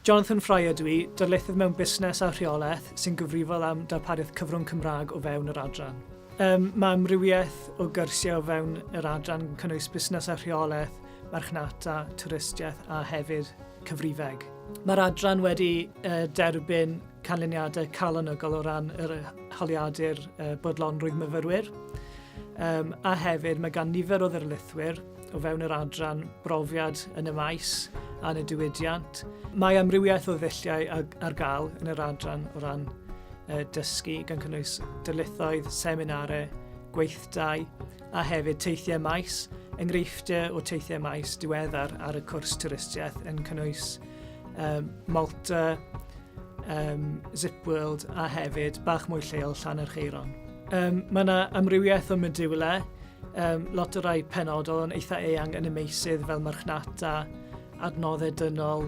Jonathan Fry ydw i, darlithydd mewn Busnes a Rheolaeth sy'n gyfrifol am darpariaeth cyfrwng Cymraeg o fewn yr adran. Mae amrywiaeth o gyrsiau o fewn yr adran yn cynnwys Busnes a Rheolaeth, Marchnata, Twristiaeth a hefyd Cyfrifeg. Mae'r adran wedi derbyn canlyniadau calonogol o ran yr holiadur bodlonrwydd myfyrwyr a hefyd mae gan nifer o ddarlithwyr, o fewn yr adran brofiad yn y maes a'n y diwydiant. Mae amrywiaeth o ddulliau ar gael yn yr adran o ran dysgu, gan cynnwys dylithoedd, seminarau, gweithdai a hefyd teithiau maes, enghreifftiau o teithiau maes diweddar ar y cwrs twristiaeth yn cynnwys um, Malta, um, Zip World a hefyd bach mwy lleol Llannercheiron. Um, mae yna amrywiaeth o modiwlau Um, lot o rai penodol yn eitha eang yn y meysydd fel marchnata, adnoddau dynol,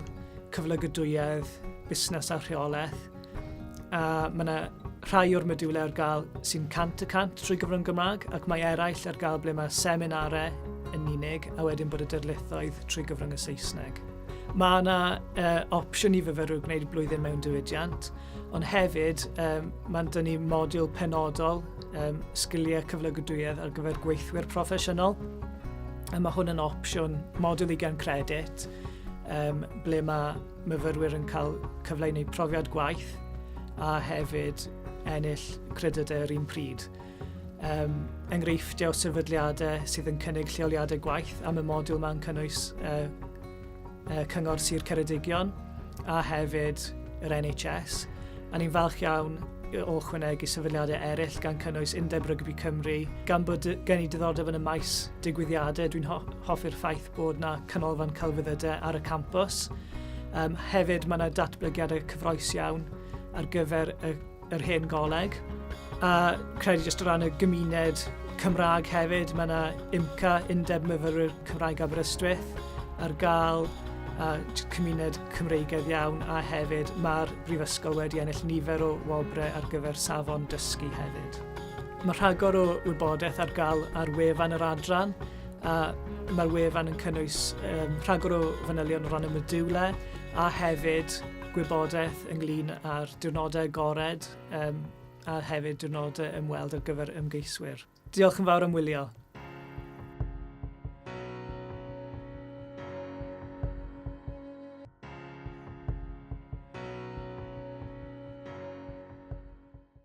cyflygydwyedd, busnes a rheolaeth. A mae yna rhai o'r modiwlau ar gael sy'n 100 y 100 trwy gyfrwng Gymraeg ac mae eraill ar gael ble mae seminarau yn unig a wedyn bod y dyrlithoedd trwy gyfrwng y Saesneg. Mae yna uh, opsiwn i fyfyrwyr gwneud blwyddyn mewn diwydiant, ond hefyd um, mae'n dynnu modiwl penodol um, sgiliau cyflogadwyedd ar gyfer gweithwyr proffesiynol. A mae hwn yn opsiwn model i gan credit, um, ble mae myfyrwyr yn cael cyfle i wneud profiad gwaith a hefyd ennill credydau yr un pryd. Um, enghreifftiau o sefydliadau sydd yn cynnig lleoliadau gwaith am y modiwl mae'n cynnwys uh, y Cyngor Sir Ceredigion a hefyd yr NHS. A ni'n falch iawn o chwynegu sefydliadau eraill gan cynnwys Undeb Rygbi Cymru, gan bod gen i diddordeb yn y maes digwyddiadau, dwi'n ho hoffi'r ffaith bod yna canolfan celfyddydau ar y campus. Um, hefyd, mae yna datblygiadau cyfroes iawn ar gyfer y yr hen goleg, a credu jyst o ran y gymuned Cymraeg hefyd, mae yna IMCA, Undeb Myfyrwyr Cymraeg Aberystwyth, ar gael a cymuned Cymreigedd iawn a hefyd mae'r Brifysgol wedi ennill nifer o wobrau ar gyfer safon dysgu hefyd. Mae rhagor o wybodaeth ar gael ar wefan yr adran a mae'r wefan yn cynnwys um, rhagor o fanylion o ran y modiwlau a hefyd gwybodaeth ynglyn â'r diwrnodau agored um, a hefyd diwrnodau ymweld ar gyfer ymgeiswyr. Diolch yn fawr am wylio.